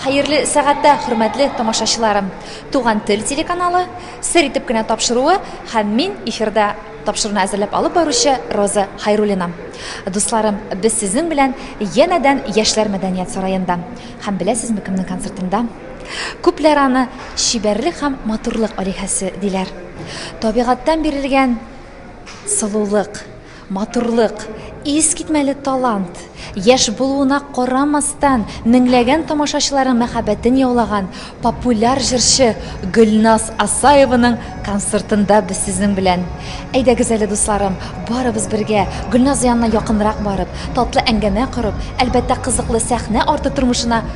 Хәерле сәгатьтә, хөрмәтле тамашачыларым! Туган тел телеканалы сер итеп кенә тапшыруы һәм мин эфирда тапшыруны әзерләп алып баручы Роза Хайруллина. Дусларым, без сезнең белән янәдән Яшьләр мәдәният сараенда. Һәм беләсезме кемнең концертында? Күпләр аны чибәрлек һәм матурлык алиһәсе диләр. Табигатьтән бирелгән сылулык, Матурлык, искитмәле талант! Яшь булуына карамастан, меңләгән тамашачыларның мәхәббәтен яулаган популяр җырчы Гөлназ Асаеваның концертында без сезнең белән. Әйдәгез әле, дусларым, барыбыз бергә, Гөлназ янына якынрак барып, татлы әңгәмә корып, әлбәттә, кызыклы сәхнә арты тормышына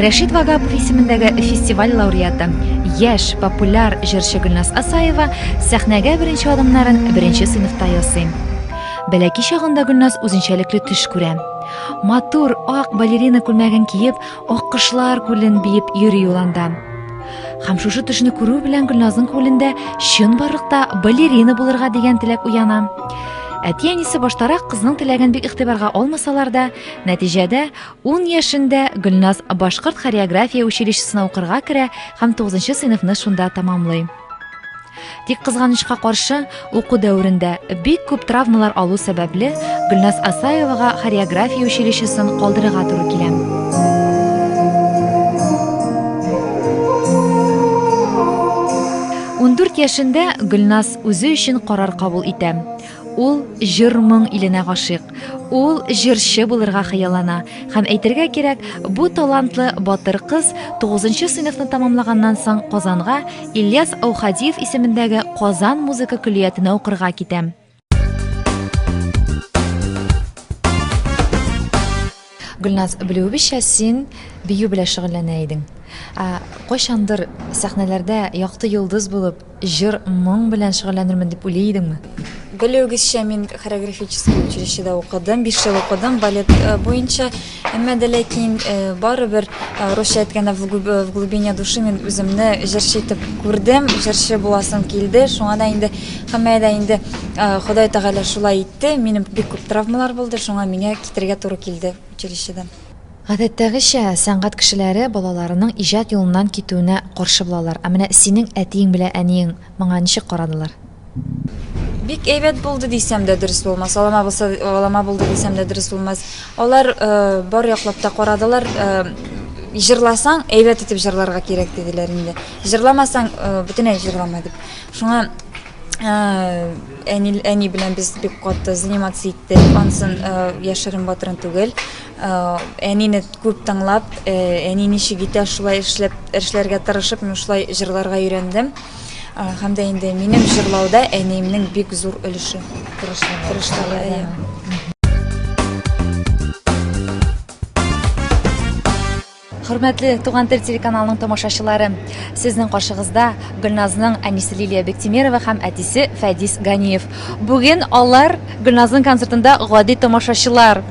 Рәшид Вагапов исемендәге фестиваль лауреаты, яшь популяр җырчы Гөлназ Асаева сәхнәгә беренче адымнарын беренче сыйныфта ясый. Бәләки чагында Гөлназ үзенчәлекле төш күрә. Матур ак балерина күлмәген киеп, аккошлар күлен биеп йөри ул анда. Һәм шушы төшне күрү белән Гөлназның күңелендә чынбарлыкта балерина булырга дигән теләк уяна. Әти-әнисе баштарак кызның теләген бик игътибарга алмасалар да, Нәтиҗәдә, ун яшендә Гөлназ башкорт хореография училищесына укырга керә һәм 9 сыйныфны шунда тәмамлый. Тик кызганычка каршы, уку дәверендә бик күп травмалар алу сәбәпле, Гөлназ Асаевага хореография училищесын калдырырга туры килә. Ундүрт яшендә Гөлназ үзе өчен карар кабул итә. Ул җыр-моң иленә гашыйк. Ул җырчы булырга хыяллана. Һәм әйтергә кирәк, бу талантлы батыр кыз 9 нчы сыйныфны тәмамлаганнан соң Казанга Ильяс Аухадиев исемендәге Казан музыка көллиятенә укырга китә. Гөлназ, белүебезчә, син бию белән шөгыльләнә идең. Ә кайчандыр сәхнәләрдә якты йолдыз булып, җыр, моң белән шөгыльләнермен дип уйлый идеңме? Белүегезчә, мин хореографический училищеда укыдым, биш ел укыдым балет э, буенча. Әмма дә ләкин э, барыбер э, русча әйткәндә в глубине души мин үземне җырчы итеп күрдем, җырчы буласым килде. Шуңа да инде һәммә дә инде Ходай Тәгалә шулай итте. Минем бик күп травмалар булды, шуңа миңа Китәргә туры килде училищедан. Гадәттәгечә, сәнгать кешеләре балаларының иҗат юлыннан китүенә каршы булалар. Ә менә синең әтиең белән әниең моңа ничек карадылар? Бик әйбәт булды дисәм дә дөрес булмас, алама булса, алама булды дисәм дә дөрес булмас. Алар бар яклап та карадылар. Җырласаң, әйбәт итеп җырларга кирәк, диделәр инде. Җырламасаң, бөтенләй җырламай дип. Шуңа Әни, әни белән без бик каты заниматься иттек. Ансын яшерен батырын түгел. Әнине күп тыңлап, әни ничек итә, шулай эшләп, эшләргә тырышып, мин шулай җырларга өйрәндем. Һәм дә инде минем җырлауда әниемнең бик зур өлеше. Тырышлыгы. Хөрмәтле Туган тел телеканалының тамашачылары, сезнең каршыгызда Гөлназның әнисе Лилия Бектимерова һәм әтисе Фәдис Ганиев. Бүген алар Гөлназның концертында гади тамашачылар.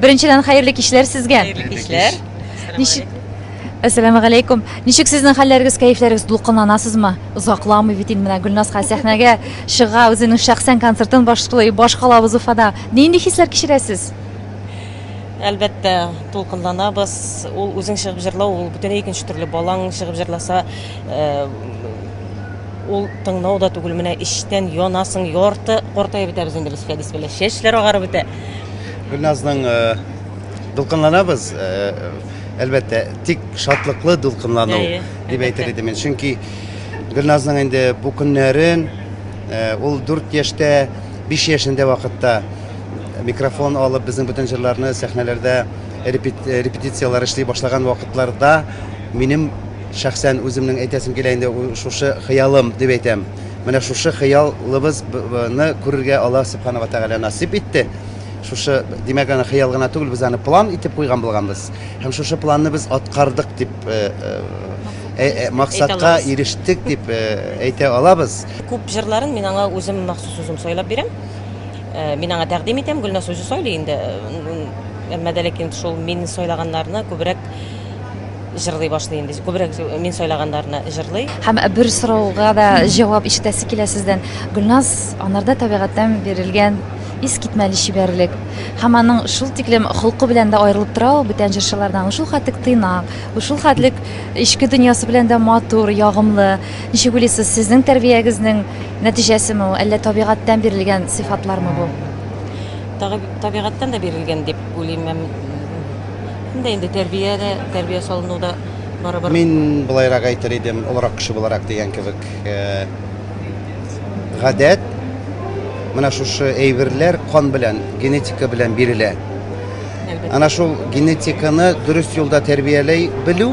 Беренчедән, хәерле кичләр сезгә. Хәерле кичләр. Ничек Әссәламәгаләйкүм. Ничек сезнең хәлләрегез, кәефләрегез? Дулкынланасызмы? Озакламый бит инде менә Гөлназга сәхнәгә чыга, үзенең шәхсән концертын башлый, башкалабыз Уфада. Нинди хисләр кичерәсез? Әлбәттә, тулкынланабыз. Ул үзең чыгып җырлау, ул бөтенләй икенче төрле. Балаң чыгып җырласа, э, ул тыңлау да түгел, менә эчтән янасың, ярты картаеп бетәбез инде без Фәдис белән. Чәчләр агарып бетә. Гөлназның э, дулкынланабыз, э, әлбәттә, тик шатлыклы дулкынлану Әйе, дип әлбәттә. әйтер идем мин. Чөнки Гөлназның инде бу көннәрен э, ул 4 яшьтә, 5 яшендә вакытта микрофон алып безнең бөтен җырларны сәхнәләрдә репетицияләр эшли башлаган вакытларда минем шәхсән үземнең әйтәсем килә инде шушы хыялым дип әйтәм менә шушы хыялыбызны күрергә алла субханала тәгалә насыйп итте шушы димәк аны хыял гына түгел без аны план итеп куйган булганбыз һәм шушы планны без аткардык дип э, э, э, максатка ирештек дип әйтә алабыз күп җырларын мин аңа үзем махсус үзем сайлап бирәм Э, мин аңа тәкъдим итәм, Гөлназ үзе сайлый инде. Әмма дә ләкин шул мин сайлаганнарны күбрәк җырлый башлый инде. Күбрәк мин сайлаганнарны җырлый. Һәм бер сорауга да җавап ишетәсе килә сездән. Гөлназ анарда табигатьтән бирелгән ис китмәле чибәрлек. Һәм аның шул тиклем холкы белән дә аерылып тора ул бүтән җырчылардан. Ул шул хәтлек тыйнак, ул шул хәтлек эчке дөньясы белән дә матур, ягымлы. Ничек уйлыйсыз, сезнең тәрбиягезнең нәтиҗәсеме ул, әллә табигатьтән бирелгән сыйфатлармы бу? Табигатьтән дә бирелгән дип уйлыйм һәм инде инде тәрбия дә, тәрбия салыну да барыбер. Мин болайрак әйтер идем, олырак кеше буларак дигән кебек, гадәт, менә шушы әйберләр кан белән, генетика белән бирелә. Әлбәттә. Ана шул генетиканы дөрес юлда тәрбияләй белү,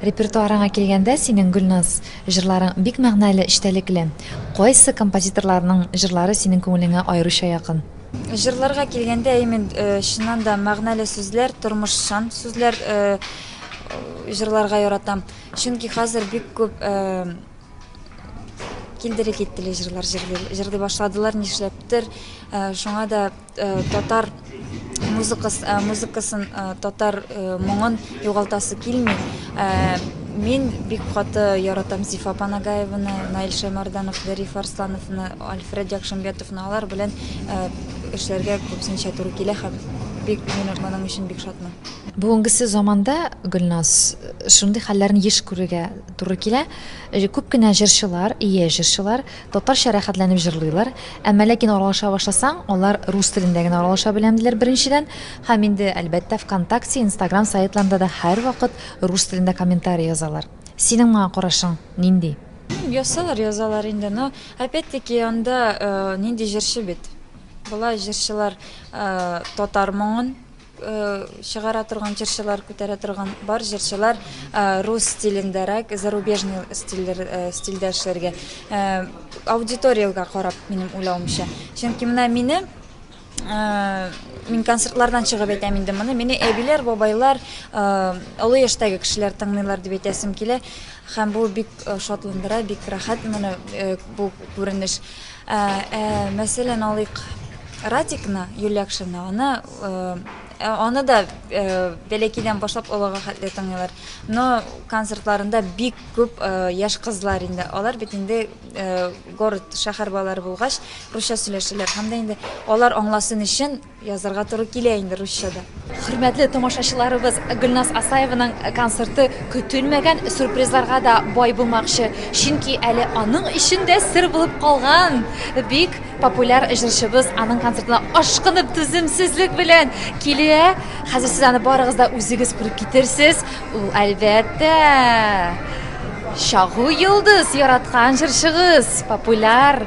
Репертуарыңа килгәндә, синең Гөлназ җырларың бик мәгънәле, эчтәлекле. Кайсы композиторларның җырлары синең күңелеңә аеруча якын? Җырларга килгәндә, имин, э, чыннан да мәгънәле сүзләр, тормышчан сүзләр э, җырларга яратам. Чөнки хәзер бик күп э, килдере киттеле җырлар җырлый башладылар, нишләптер. Шуңа да Татар музыкасы, э, музыкасын, э, татар э, моңын югалтасы килми. Мин бик каты яратам Зифа Панагаеваны, Наил Шаймарданов, Зариф Арслановны, Альфред Якшимбетовны алар белән эшләргә күпсенчә туры килә һәм бик мин моның өчен бик шатмын. Бүгенгесе заманда Гөлназ шундый хәлләрне еш күрергә туры килә. Э, күп кенә җырчылар, ие җырчылар Татарча рәхәтләнеп җырлыйлар, әмма ләкин аралаша башласаң, алар рус телендә генә аралаша беләм, диләр, беренчедән. Һәм инде, әлбәттә, ВКонтакте, Инстаграм сайтларында да һәрвакыт рус телендә комментарий язалар. Синең моңа карашың нинди? Язсалар, язалар инде, но, опять-таки, анда нинди җырчы бит? Болай җырчылар татар моңын Чыгара торган җырчылар, күтәрә торган бар җырчылар рус стилендәрәк, зарубежный стильдер, стильдә эшләргә. Аудиториягә карап, минем уйлавымча. Чөнки менә мине мин концертлардан чыгып әйтәм инде моны. Мине әбиләр, бабайлар, олы яшьтәге кешеләр тыңлыйлар дип әйтәсем килә. Һәм бу бик шатландыра, бик рәхәт моны бу күренеш. Мәсәлән, алыйк Радикны, Юлия Акшина, аны Аны да бәләкәйдән башлап олыга хәтле тыңлыйлар. Но концертларында бик күп яшь кызлар инде. Алар бит инде город, шәһәр балалары булгач, русча сөйләшәләр. Һәм дә инде алар аңласын өчен язарга туры килә инде русча да. Хөрмәтле тамашачыларыбыз, Гөлназ Асаеваның концерты көтелмәгән сюрпризларга да бай булмакчы. Чөнки әле аның өчен дә сер булып калган бик Популяр җырчыбыз аның концертына ашкынып түземсезлек белән килә. Хәзер сез аны барыгыз да үзегез күреп китерсез. Ул әлбәттә Чагу йолдыз яраткан җырчыгыз, популяр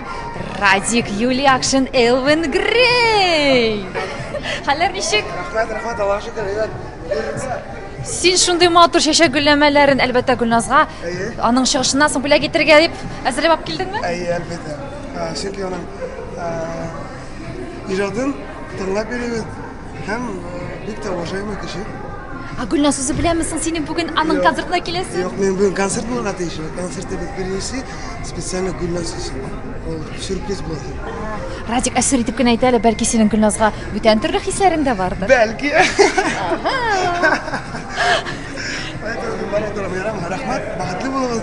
Радик Юлиакшин Элвин Грей. Хәлләр ничек? Рәхмәт, рәхмәт, Аллаһка шөкер, әйбәт. Син шундый матур чәчәк гөлләмәләрен, әлбәттә, Гөлназга аның чыгышыннан соң бүләк итәргә дип әзерләп алып килдеңме? Әйе, әлбәттә. Ә, Чөнки аның ә, иҗатын тыңлап йөрибез һәм ә, бик тә уважаемый кеше. Ә Гөлназ, үзе беләме соң синең бүген аның концертына киләсен? Юк, мин бүген концерт булырга тиеш. Концерты без беренче специально гүлназ өчен ул сюрприз булды радик әсер итеп кенә әйтә әле бәлки синең гөлназга бүтән төрле хисләрең дә бардыр бәлки рәхмәт бәхетле булыгыз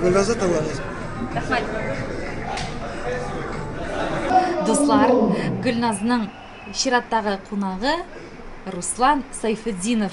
гөлназа тыңлагыз рәхмәт дуслар гөлназның чираттагы кунагы руслан сайфетдинов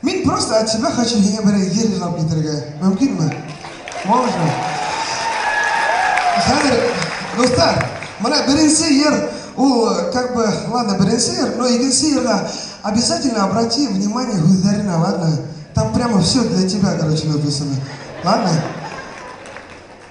Мин просто от тебя хочу еңә берәр җыр җырлап китергә. Мөмкинме? Можно. Хәзер, дуслар, менә беренче җыр, ул как бы, ладно, беренче җыр, но икенче җырга обязательно обрати внимание һүзләренә, ладно? Там прямо все для тебя, короче, написано. Ладно?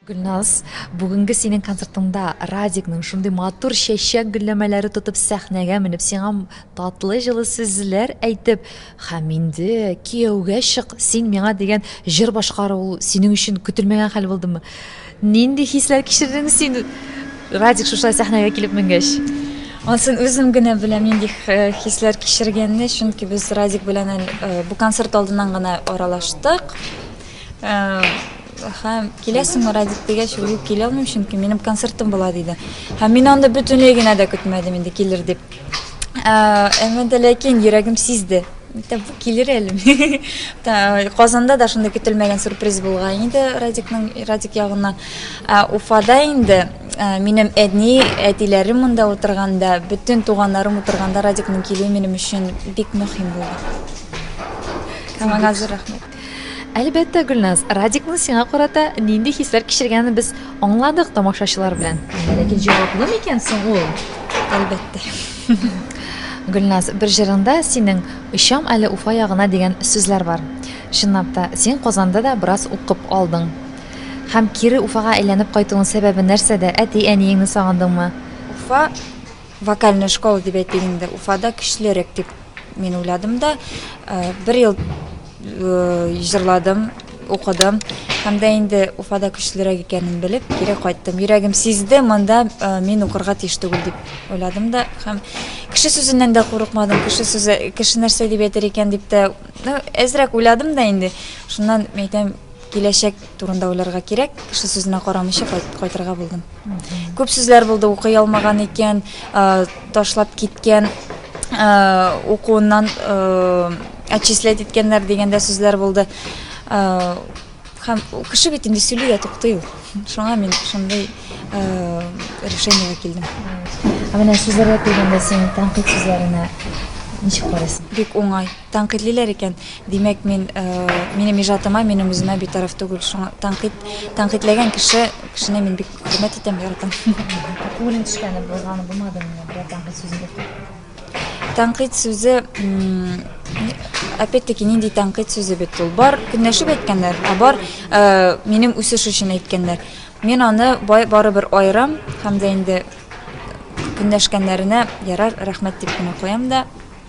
Гөлназ, бүгенге синең концертыңда Радикның шундый матур чәчәк гөлләмәләре тотып сәхнәгә менеп, сиңа татлы җылы сүзләр әйтеп, Һәм инде кияүгә чык син миңа дигән җыр башкаруы ул синең өчен көтелмәгән хәл булдымы? Нинди хисләр кичердең син Радик шушылай сәхнәгә килеп менгәч? Ансын үзем генә беләм нинди хисләр кичергәнне, чөнки без Радик белән әле бу концерт алдыннан гына аралаштык. Һәм киләсеңме Радик дигәч, ул юк килә алмыйм, чөнки минем концертым була диде. Һәм мин анда бөтенләй генә дә көтмәдем инде килер дип. Әмма дә ләкин йөрәгем сизде. Тәп килер әле. Казанда да шундый көтелмәгән сюрприз булган иде Радикның Радик ягыннан. Уфада инде минем әни, әтиләрем монда утырганда, бөтен туганнарым утырганда Радикның килүе минем өчен бик мөһим булды. Һәм аңа зур рәхмәт. Әлбәттә, Гөлназ, Радикның сиңа карата нинди хисләр кичергәнен без аңладык тамашачылар белән. Ләкин җаваплы микән соң ул? Әлбәттә. Гөлназ, бер җырыңда синең «Очам әле Уфа ягына» дигән сүзләр бар. Чынлап та, син Казанда да бераз укып алдың. Һәм кире Уфага әйләнеп кайтуың сәбәбе нәрсәдә? Әти-әниеңне сагындыңмы? Уфа вокальная школа дип әйтик инде. Уфада көчлерәк дип Мин уйладым да, э, бер ел э, җырладым, укыдым. Һәм дә инде Уфада көчлерәк икәнен белеп, кире кайттым. Йөрәгем сизде, монда э, мин укырга тиеш түгел дип уйладым да. Һәм кеше сүзеннән дә курыкмадым. Кеше сүзе, кеше нәрсә дип әйтер икән дип тә, ну, әзрәк уйладым да инде. Шуннан әйтәм, Киләчәк турында уйларга кирәк, кеше сүзенә карамыйча кайтырга булдым. Күп сүзләр булды, укый алмаган икән, ташлап киткән, укуыннан отчислять иткәннәр дигәндә сүзләр булды. Һәм кеше бит инде сөйли дә туктый ул. Шуңа мин шундый решениегә килдем. Ә менә сүзләргә килгәндә син тәнкыйть сүзләренә ничек карыйсың? Бик уңай. Тәнкыйтьлиләр икән, димәк, мин, минем иҗатыма, минем үземә битараф түгел. Шуңа тәнкыйть, тәнкыйтьләгән кеше, кешене мин бик хөрмәт итәм, яратам. Күңелең төшкәне булган, булмадымы менә берәр тәнкыйть сүзен әйтеп? Тәнкыйть сүзе, опять-таки, нинди тәнкыйть сүзе бит ул? Бар көнләшеп әйткәннәр, ә бар минем үсеш өчен әйткәннәр. Мин аны бай, барыбер аерам һәм дә инде көнләшкәннәренә ярар, рәхмәт дип кенә куям да.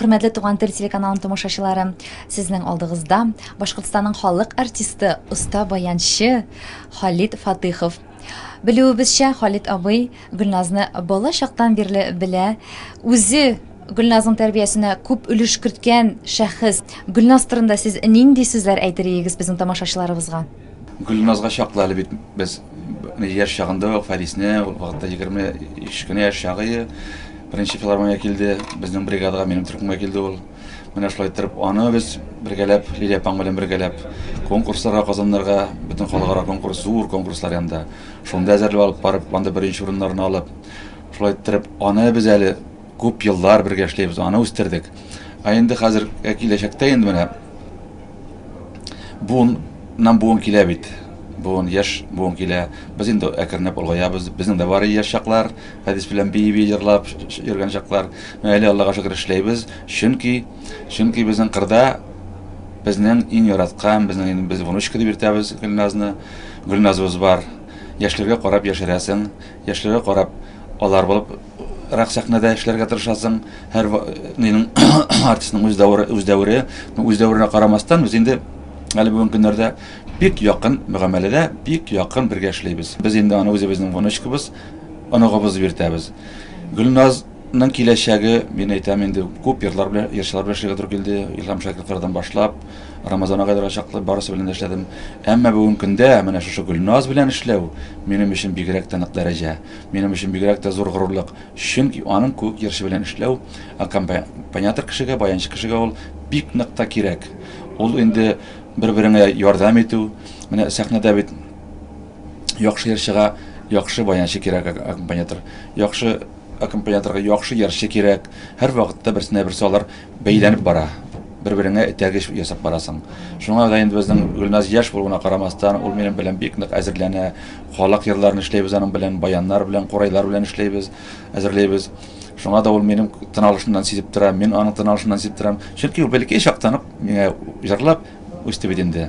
Хөрмәтле Туган тел телеканалының тамашачылары, сезнең алдыгызда Башкортстанның халык артисты, оста баянчы Халит Фатыхов. Белүебезчә, Халит абый Гөлназны бала чактан бирле белә. Үзе Гөлназның тәрбиясенә күп өлеш керткән шәхес. Гөлназ турында сез нинди сүзләр әйтер идегез безнең тамашачыларыбызга? Гөлназга чаклы әле бит без яшь чагында ук Фәрисне, ул вакытта 23 кенә яшь чагы, беренче филармония килде, безнең бригадага, минем төркемгә килде ул. Менә шулай иттереп, аны без бергәләп, Лилия апаң белән бергәләп, конкурсларга, Казаннарга, бөтен халыкара конкурс, зур конкурслар янында. Шунда әзерләп алып барып, анда беренче урыннарны алып, шулай иттереп, аны без әле Күп еллар бергә эшләйбез, аны үстердек. Ә инде хәзер ә киләчәктә инде менә буын нам буын килә бит. Буын яшь буын килә. Без инде әкренләп олгаябыз. Безнең дә бар яшь чаклар, Фәдис белән бии-бии җырлап йөргән чаклар. Менә әле Аллага шөкер эшләйбез, чөнки чөнки безнең кырда безнең иң яраткан, безнең иң без внучка дип йөртәбез Гөлназны. Гөлназыбыз бар. Яшьләргә карап яшәрәсең, яшьләргә карап алар булып Рак сәхнәдә эшләргә тырышасың, һәр артистның үз дәвере, үз дәвере, үз дәверенә карамастан, без инде әле бүгенге көннәрдә бик якын мөгамәләдә, бик якын бергә эшлибез. Без инде аны үзебезнең внучкабыз, оныгыбыз дип йөртәбез. Гөлназ Ның киләчәге, мин әйтәм инде, күп йортлар белән, йырчылар белән эшләргә туры килде. Илһам Шакировлардан башлап, Рамазан агайларга чаклы барысы белән дә эшләдем. Әмма бүгенге көндә менә шушы Гөлназ белән эшләү минем өчен бигрәк тә нык дәрәҗә. Минем өчен бигрәк тә зур горурлык, чөнки аның куык җырчы белән эшләү, аккомпаниатор кешегә, баянчы кешегә ул бик нык та кирәк. Ул инде бер-береңә ярдәм итү, менә сәхнәдә бит яхшы җырчыга яхшы баянчы кирәк, аккомпаниатор, яхшы аккомпаниаторга яхшы җырчы кирәк, һәрвакытта берсенә-берсе алар бәйләнеп бара. Бер-береңә этәргеч ясап барасың. Шуңа да инде безнең Гөлназ яшь булуына карамастан, ул минем белән бик нык әзерләнә. Халык йырларын эшләйбез аның белән, баяннар белән, курайлар белән эшләйбез, әзерләйбез. Шуңа да ул минем тыналышымнан сизеп тора, мин аның тыналышыннан сизеп торам. Чөнки ул бәләкәй чактан ук миңа җырлап үсте бит инде.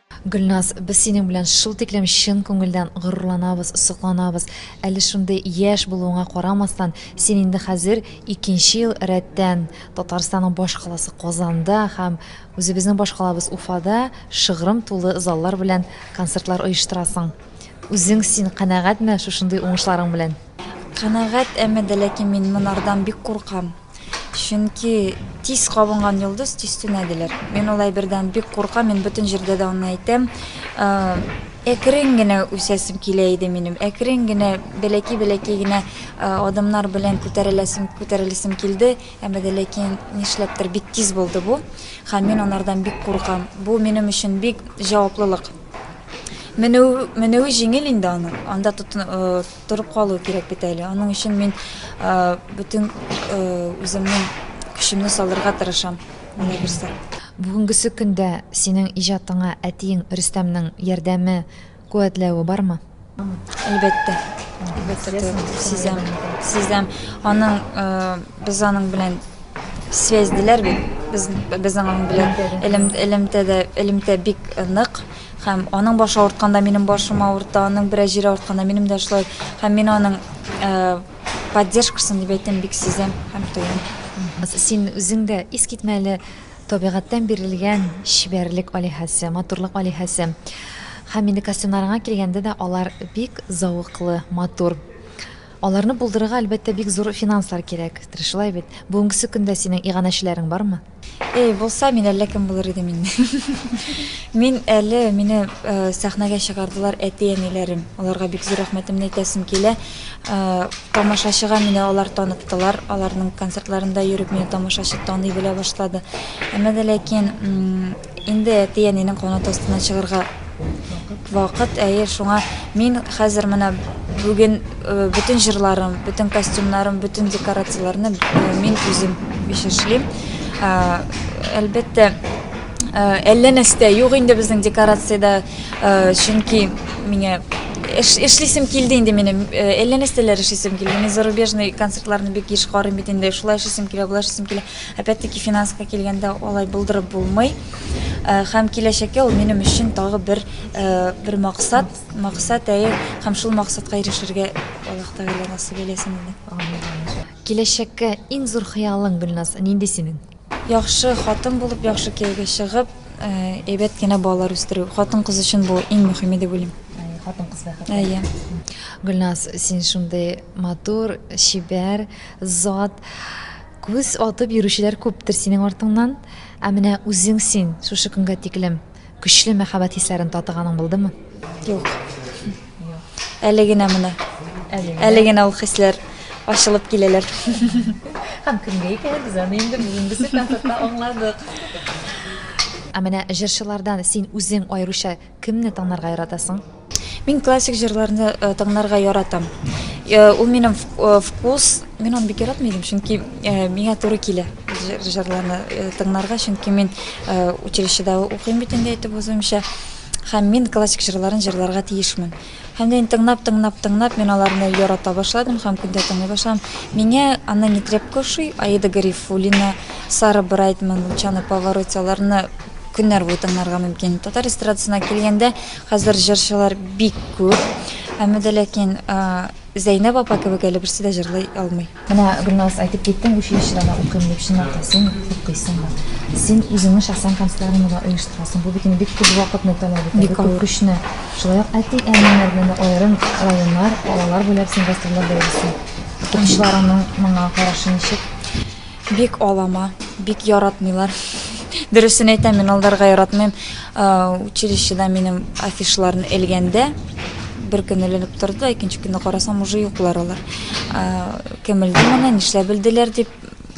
Гөлназ, без синең белән шул тиклем чын күңелдән горурланабыз, сокланабыз. Әле шундый яшь булуыңа карамастан, син инде хәзер икенче ел рәттән Татарстанның башкаласы Казанда һәм үзебезнең башкалабыз Уфада шыгрым тулы заллар белән концертлар оештырасың. Үзең син канәгатьме шушындый уңышларың белән? Канәгать, әмма дә ләкин мин монардан бик куркам. Чөнки тиз кабынган йолдыз тиз сүнә диләр. Мин ул әйбердән бик куркам, мин бөтен җирдә дә аны әйтәм. Әкрен генә үсәсем килә иде минем, әкрен генә бәләкәй-бәләкәй генә адымнар белән күтәреләсем, күтәреләсем килде, әмма дә ләкин нишләптер бик тиз булды бу, һәм мин анардан бик куркам. Бу минем өчен бик җаваплылык. Менү, менүе җиңел инде аның, анда тотын, Торып калу кирәк бит әле. Аның өчен мин бөтен үземнең көчемне салырга тырышам. Менә берсе. Бүгенгесе көндә синең иҗатыңа әтиең Рөстәмнең ярдәме, куәтләве бармы? Әлбәттә. Әлбәттә, сизәм. Сизәм. Аның без аның белән связьделәр бит. Без безнең аның белән элемтәдә элемтә бик нык. Һәм аның башы авыртканда минем башым авырта, аның бераз җире авыртканда минем дә шулай. Һәм мин аның э, поддержкасын дип әйтәм, бик сизәм һәм тоям. Син үзең дә искитмәле табигатьтән бирелгән чибәрлек алиһәсе, матурлык алиһәсе. Һәм инде костюмнарыңа килгәндә дә алар бик зәвыклы, матур. Аларны булдырырга, әлбәттә, бик зур финанслар кирәк. Шулай бит. Бүгенгесе көндә синең иганәчеләрең бармы? Эй, булса, мин әллә кем булыр идем инде. Мин әле, мине сәхнәгә чыгардылар әти-әниләрем. Аларга бик зур рәхмәтемне әйтәсем килә. Тамашачыга мине алар таныттылар. Аларның концертларында йөреп, мине тамашачы таный белә башлады. Әмма дә ләкин Инде әти-әнинең канат астыннан чыгарга вакыт, әйе, шуңа мин хәзер менә бүген бөтен җырларым, бөтен костюмнарым, бөтен декорацияләрне мин үзем биш эшлим. Әлбәттә, әллә нәрсә юк инде безнең декорациядә, чөнки миңа эш эшлисем килде инде минем, әллә нәрсәләр эшлисем килде. Мин зарубежный концертларны бик еш карыйм бит инде, шулай эшлисем килә, болай эшлисем килә. Опять-таки финанска килгәндә алай булдырып булмый. Э, һәм киләчәккә ул минем өчен тагы бер э, бер максат, максат әйе, һәм шул максатка ирешергә Аллаһ Тәгалә насыйп әйләсен инде. Киләчәккә иң зур хыялың Гөлназ нинди синең? Яхшы хатын булып, яхшы кияүгә чыгып, э, әйбәт кенә балалар үстерү. Хатын кыз өчен бу иң мөһиме дип уйлыйм. Хатын кыз бәхет. Әйе. Гөлназ, син шундый матур, чибәр, зат. Күз атып йөрүчеләр күптер синең артыңнан, ә менә үзең син шушы көнгә тиклем көчле мәхәббәт хисләрен татыганың булдымы? Юк. Әле генә менә. Әле генә ул хисләр ачылып киләләр. Һәм кемгә икән без аны инде бүгенгесе концертта аңладык. Ә менә җырчылардан син үзең аеруча кемне танарга яратасың? Мин классик җырларны э, тыңларга яратам. Э, Ул минем в- э, вкус, мин аны бик яратмый идем, чөнки э, миңа туры килә җыр- җырларны э, тыңларга, чөнки мин э, училищеда укыйм бит инде әйтеп узуымча. Һәм мин классик җырларын җырларга тиешмен. Һәм дә инде тыңлап, тыңлап, тыңлап, мин аларны ярата башладым һәм күндә тыңлый башладым. Миңа Анна Нетребко ошый, Аида Гарифуллина, Сара Брайтман, Лучано Повороте, аларны көннәр буе тыңларга мөмкин. Татар эстрадасына килгәндә, Хәзер җырчылар бик күп. Әмма дә ләкин Зәйнәб апа кебек әле берсе дә җырлый алмый. Менә Гөлназ әйтеп киттең, училищеда да укыйм дип, чынлап та син укыйсыңмы? Син үзеңнең шәхсән концертларыңны да оештырасың. Бу бит инде бик күп вакытны таләп итә, бик күп көчне. Шулай ук әти-әниләр белән дә аерым районнар, калалар буйлап син гастрольләрдә йөрисең. Укучыларыңның моңа карашы ничек? Бик алама, бик яратмыйлар. Дөресен әйтәм, мин алдарга яратмыйм. Училищеда минем афишларын элгәндә бер көн эленеп торды да, икенче көнне карасам, уже юклар алар. Кем элде моны, нишләп элделәр дип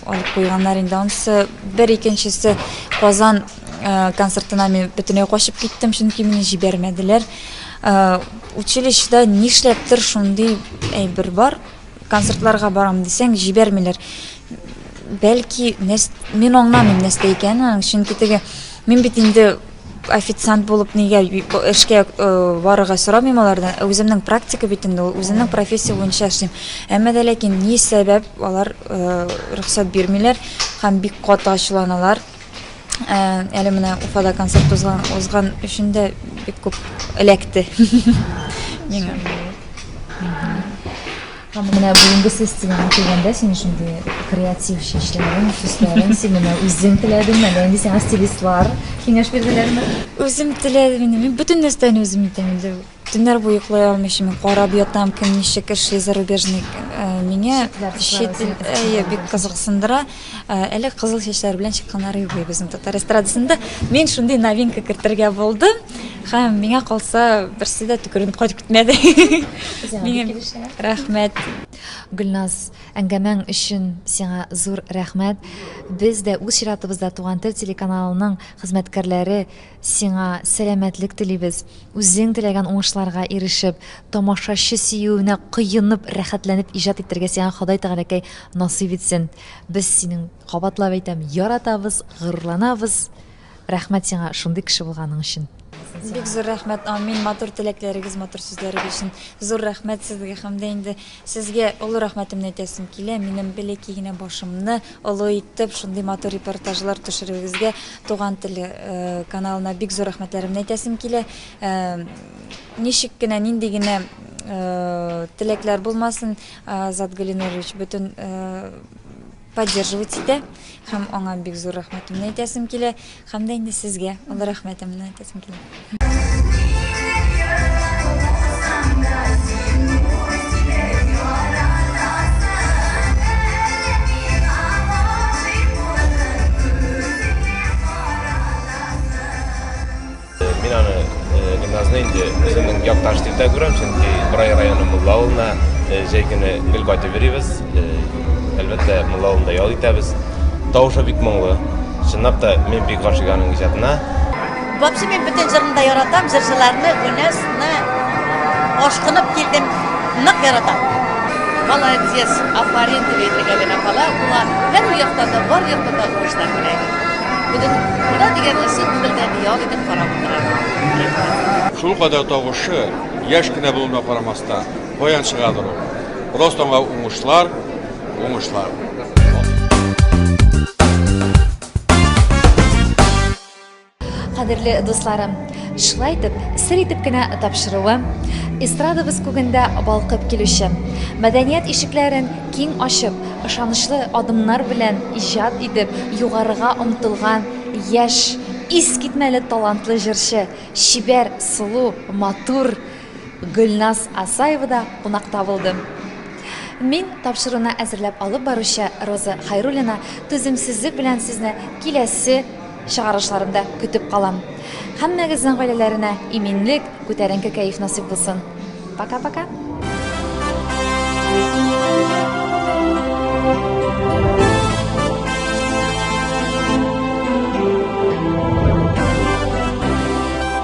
алып куйганнар инде. Анысы бер икенчесе Казан концертына мин бөтенләй качып киттем, чөнки мине җибәрмәделәр. Училищеда нишләптер шундый әйбер бар. Концертларга барам дисәң, җибәрмиләр. Бәлки, нәрс... мин аңламыйм нәрсә икәнен, чөнки теге мин бит инде официант булып нигә эшкә э, барырга сорамыйм алардан. Ә Үземнең практика бит инде ул, үземнең профессия буенча эшлим. Әмма дә ләкин ни сәбәп алар э, рөхсәт бирмиләр һәм бик каты ачуланалар. Әле менә Уфада концерт узган, узган өчен дә бик күп эләкте. Миңа. Һәм менә бүгенге сессиягә килгәндә син шундый креатив шишләрен, сүзләрен син менә үзең теләдеңме, әллә инде сиңа стилистлар киңәш бирделәрме? Үзем теләдем инде. Мин бөтен нәрсәне үзем итәм инде. Төннәр буе йоклый алмыйча мин карап ятам, кем ничек эшли, зарубежный. Э, миңа чит ил әйе бик кызыксындыра. Э, әле кызыл чәчләр белән чыкканнар юк безнең татар эстрадасында. Мин шундый новинка кертергә булдым. Һәм миңа калса берсе дә төкеренеп кайтып китмәде. Миңа рәхмәт. Гөлназ, әңгәмәң өчен сиңа зур рәхмәт. Без дә үз чиратыбызда Туган тел телеканалының хезмәткәрләре Сиңа сәламәтлек телибез, үзең теләгән уңышларга ирешеп, тамашачы сөюенә коенып, рәхәтләнеп иҗат итәргә сиңа Ходай Тәгаләкәй насыйп итсен. Без синең, кабатлап әйтәм, яратабыз, горурланабыз. Рәхмәт сиңа шундый кеше булганың өчен. Бик зур рәхмәт, амин, матур теләкләрегез, матур сүзләрегез өчен зур рәхмәт сезгә һәм дә инде Сезгә олы рәхмәтемне әйтәсем килә, минем бәләкәй генә башымны олы итеп, шундый матур репортажлар төшерүегезгә, Туган тел каналына бик зур рәхмәтләремне әйтәсем килә. Ничек кенә, нинди генә теләкләр булмасын, Азат Гөлинурович, бөтен поддерживать итә һәм аңа бик зур рәхмәтемне әйтәсем килә һәм дә инде сезгә олы рәхмәтемне әйтәсем килә Мин аны гимназны инде үземнең якташ дип тә күрәм, чөнки Брай районы Мулла авылына җәй көне гел кайтып йөрибез. Әлбәттә, Мулла авылында ял итәбез. Тавышы бик моңлы. Чынлап та, мин бик гашыйк аның иҗатына. Вообще мин бөтен җырын да яратам, җырчыларны, Гүнәсне ашкынып килдем, нык яратам. Молодец, афарин дип әйтергә генә кала, була. Һәр якта да, бар якта да уңышлар теләйбез. Бүген куда дигән ысул бер дә ял итеп карап утыра. Шул кадәр тавышы яшь кенә булуына карамастан, баянчыгадыр ул. Просто аңа уңышлар, уңышлар. Кадерле дусларым, шулай итеп, сер итеп кенә тапшыруым, эстрадабыз күгендә балкып килүче мәдәният ишекләрен Киң ачып, ышанычлы адымнар белән иҗат итеп, югарыга омтылган яшь, искитмәле талантлы җырчы, чибәр, сылу, матур Гөлназ Асаева да кунакта булды. Мин тапшыруны әзерләп алып баручы Роза Хайруллина түземсезлек белән сезне киләсе Чыгарышларымда көтеп калам. Һәммәгезнең гаиләләренә иминлек, күтәренке кәеф насыйп булсын. Пока-пока!